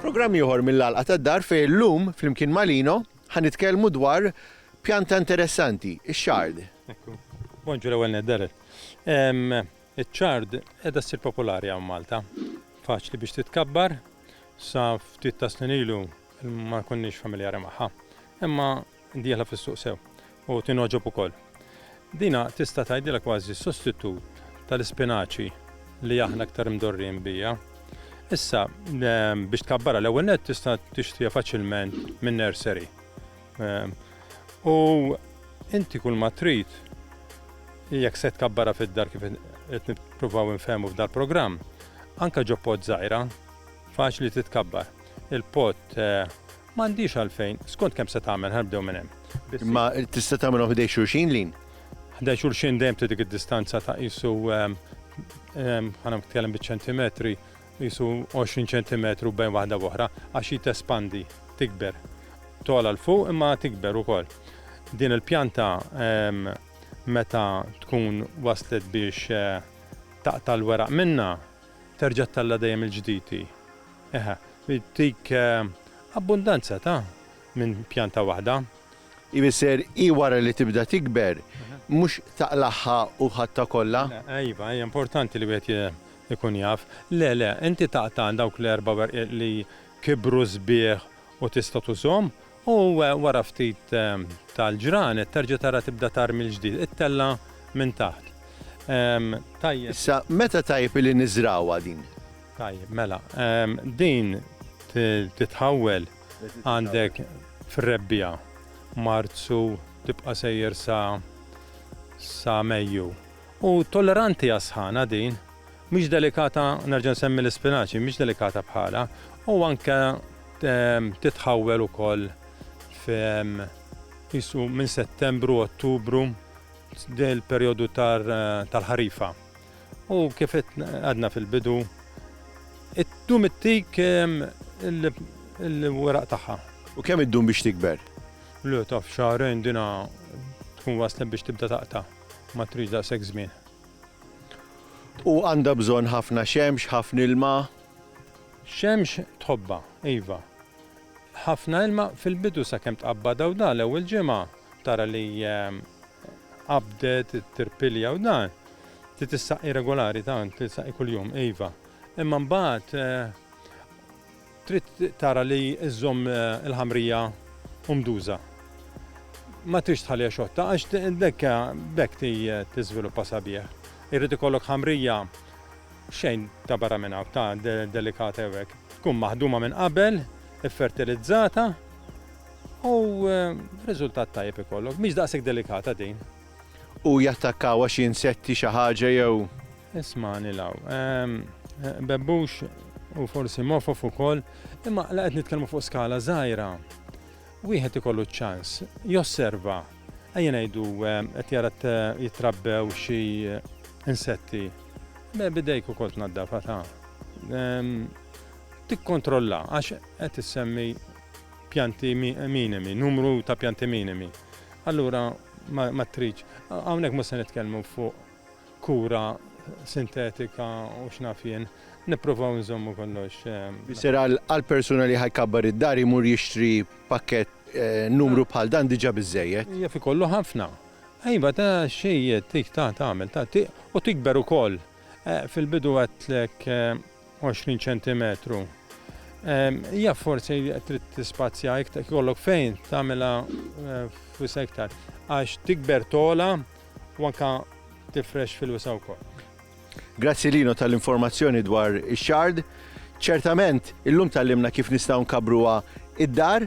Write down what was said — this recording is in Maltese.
Programm ieħor mill-Għalqa tad-Dar fejn illum flimkien ma' Lino ħa nitkellmu dwar pjanta interessanti, ix-xard. Bonġu l-ewwel nedder. Iċ-ċard qiegħda ssir popolari hawn Malta. Faċli biex titkabbar, sa ftit tas-snin ilu ma konniex familjari magħha, imma dieħla fis-suq sew u tingħoġob ukoll. Dina tista' tgħidilha kważi sostitut tal-ispinaċi li aħna iktar mdorrijin bija. Issa, biex tkabbarha l-ewwel nett tista' tixtriha faċilment min-nursery. U inti kull ma trid jekk se tkabbara fid-dar kif qed nippruvaw infehmu f'dal-programm, anka ġo pot żgħira, faċli titkabbar. Il-pot m'għandix għalfejn, skont kemm se tagħmel, ħa nibdew minn hemm. Imma tista' tagħmilhom ħdej xulxin lin? Ħdej xulxin dejjem trid dik id-distanza ta' qisu ħa nitkellem biċ-ċentimetri, qisu 20 ċentimetru bejn waħda b'oħra, għax hi tespandi, tikber, togħla 'l fuq imma tikber ukoll. Din il-pjanta meta tkun waslet biex taqta' l-weraq minnha, terġa' ttella' dejjem mill-ġdid hi. Eħe, ttik abbundanza ta' minn pjanta waħda. Ifisser hi wara li tibda tikber, mhux taqlagħha u ħadtha kollha? Iva, hija importanti li wieħed Ikun jaf. Le, le, inti taqta' dawk l-erba' werqiet li kibru sbieħ u tista' tużhom, u wara ftit tal-ġranet terġa' tara tibda tgħarr mill-ġdid it-tella' minn taħt. Tajjeb. Issa, meta tajjeb illi niżragħuha din? Tajjeb, mela. Din titħawwel għandek fir-Rebbiegħa. Marzu tibqa' sejjer sa Mejju. U tolleranti għas-sħana din. Mhix delikata, nerġa' nsemmi l-ispinaċi, mhix delikata bħalha u anke titħawwel ukoll f' qisu minn Settembru, Ottubru, l-perjodu tal-ħarifa. U kif għedna fil-bidu, iddum ittik il-weraq tagħha. U kemm iddum biex tikber? Le, taf, xahrejn din tkun waslet biex tibda taqta'. Ma tridx daqshekk żmien. U għandha bżonn ħafna xemx, ħafna ilma. Xemx tħobbha, iva. Ħafna ilma fil-bidu sakemm tqabbadha u dan l-ewwel ġimgħa tara li qabdet, tirpilja u dan. Trid issaqqi regolari tant, trid issaqqi kuljum, iva. Imma mbagħad Trid tara li żżomm il-ħamrija umduża. Ma tridx tħalliha xotta għax d-dekka b'hekk tiżviluppa sabiħ. Irid ikollok ħamrija xejn ta' barra minn hawn, ta' delikata jew hekk. Tkun maħduma minn qabel, iffertilizzata u riżultat tajjeb ikollok. Mhix daqshekk delikata din. U jattakkawha xi insetti, xi ħaġa jew. Ismagħni 'l hawn. Bebbux u forsi mofof ukoll, imma la qed nitkellmu fuq skala żgħira. Wieħed ikollu ċ-ċans, josserva, ejja ngħidu qed jara jitrabbew xi insetti. Me bidejk ukoll tnaddafha ta' tikkontrolla għax qed issemmi pjanti minimi, numru ta' pjanti minimi. Allura ma tridx. Hawnhekk mhux se nitkellmu fuq kura sintetika u x'naf jien. Nippruvaw nżommu kollox. Missier qal għall-persuna li ħa jkabbar id-dar imur jixtri pakkett numru bħal dan diġà biżżejjed. Jaf ikollu ħafna. Iva ta' xejjed tik ta' tagħmel ta' u tikber ukoll. Fil-bidu għedtlek 20 ċentimetru. Hija forsi trid tispazja iktar, kollok fejn tagħmilha eh, f'wisa iktar. Għax tikber tola u anka tifrex fil-wisa wkoll. Grazzi Lino tal-informazzjoni dwar ix-xard. Ċertament, illum tal-limna kif nistgħu nkabruha id-dar